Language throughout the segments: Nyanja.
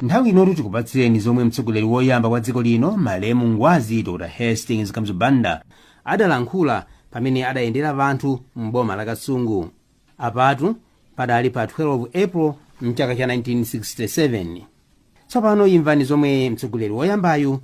nthawi inotu tikupatsireni zomwe mtsogoleri woyamba wa dziko lino malemu ngwazi dr hastings kamuzu banda adalankhula pamene adayendera wanthu m'boma la kasungu apatu padali pa 12 april mchaka cha 1967 tsopano imvani zomwe mtsogoleri woyambayu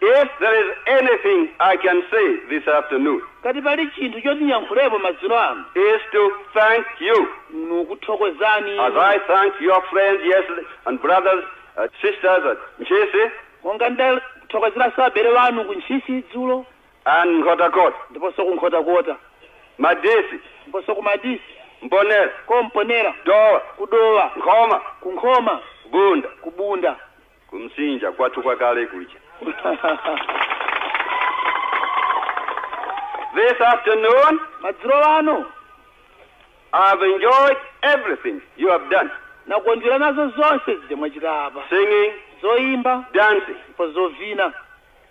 If there is anything I can say this afternoon. Ngati pali chinthu choti ndiyankhulepo madzulo ano. Is to thank you. Ndikukuthokozani. As I thanked your friends yesterday and brothers and uh, sisters at Ntchisi. Monga ndathokozeranso abale wanu ku Ntchisi dzulo. And Nkhotakota. Ndiponso ku Nkhotakota. Madisi. Ndiponso ku Madisi. Mponera. Ku Mponera. Dowa. Ku Dowa. Nkhoma. Ku Nkhoma. Bunda. Ku Bunda. Ku Msinja, kwathu kwa kale kuja. This afternoon, madzulo ano I have enjoyed everything you have done nakondwera nazo zonse zija mwachita apa singing, zoyimba dancing, ndipo zovina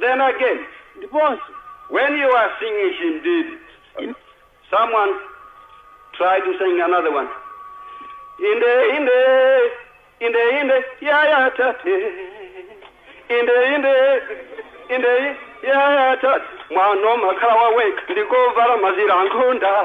Then again, ndiponso when you are singing chimdidi, someone tried to sing another one. Inde, inde, inde, inde, ya ya tate. Inde, inde, inde, ya ya tate. Mwana makhala waweka, ndikovala mazira nkhunda.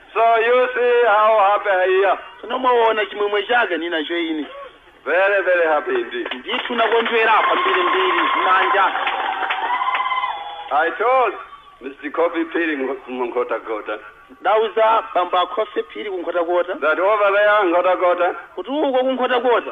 So you see how happy I am. tsono mwaona chimwemwe chake ninacho ine Very, very happy indeed. ndithu nakondwera kwambiri mbiri manja I told Mr. Khofi Phiri Nkhotakota ndauza bambo akhofi phiri kunkhotakota that over there in Nkhotakota, kuti uko kunkhotakota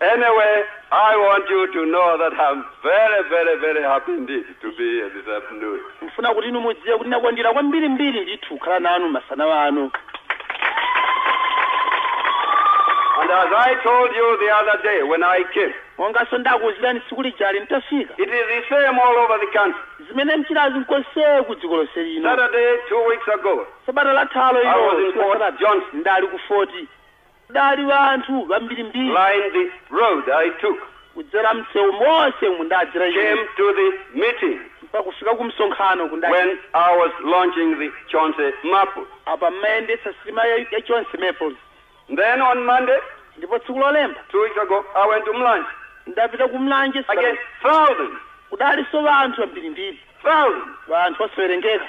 Anyway, I want you to know that I'm very, very, very happy indeed to be here this afternoon. ndikufuna kuti inu mudziwe kuti ndakondwera kwambiri mbiri ndithu kukhala nanu masana ano And as I told you the other day when I came, monganso ndakuuzirani tsiku lijali nitafika it is the same all over the country. zimene mchitazi nkonse ku dziko lonse lino Saturday, two weeks ago, sabata lathalo I was in Fort Johnston. ndali ku foti Kudali wanthu wambirimbiri. Lined the road I took. Kudzera msewu monse umu ndadzera ine. Came to the meeting. Mpakufika ku msonkhano kundali. When I was launching the Chauncy Maples. Apa mmayendetsa sitima ya, ya Chauncy Maples. Then on Monday. Ndipo tsiku lolemba. Two weeks ago I went to Mlanje. Ndapita ku Mlanje. Again thousands. Kudaliso wanthu wambirimbiri. Thousands. Wanthu osawerengeka.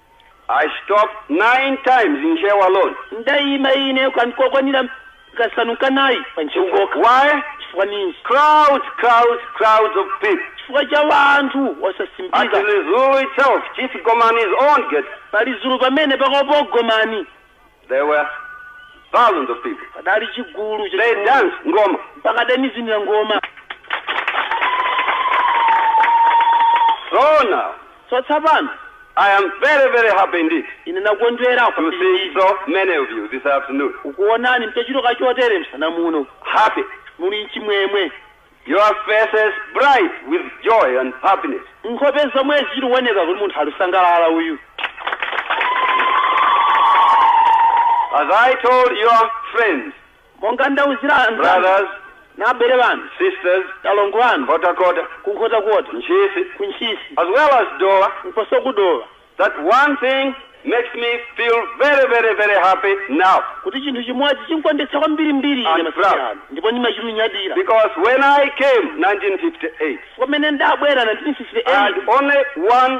I stopped nine times in Ntcheu alone. Ndaima ine kan- kokwanira kasanu kanayi pa ntcheu kokha Why? chifukwa ninji Crowds, crowds, crowds of people. chifukwa cha wanthu osasimbika At Lizulu itself, Chief Gomani's own gate. pa lizulu pamene pakhomo pa gomani There were thousands of people. padali chigulu They chachikulu. danced ngoma. mpaka adandivinira ngoma So now, so tsopano I am very, very happy indeed ine ndakondwera to see kwambiri so many of you this afternoon. kukuonani mutachuluka chotere msana muno Happy. muli chimwemwe Your faces bright with joy and happiness. Nkhope zomwe zilikuoneka kuti munthu alikusangalala uyu. As I told your friends, Monga ndauzira anzanu brothers, na abale anu, sisters, alongo anu, Nkhotakota, ku Nkhotakota, Ntchisi, ku Ntchisi, as well as Dowa, komanso ku Dowa. that one thing makes me feel very, very, very happy now. kuti chinthu chimodzi chindikondweretsa kwambirimbiri ine And masiku proud. ano ndipo ndimachinyadira Because when I came 1958, pamene ndabwera I had 1958 only one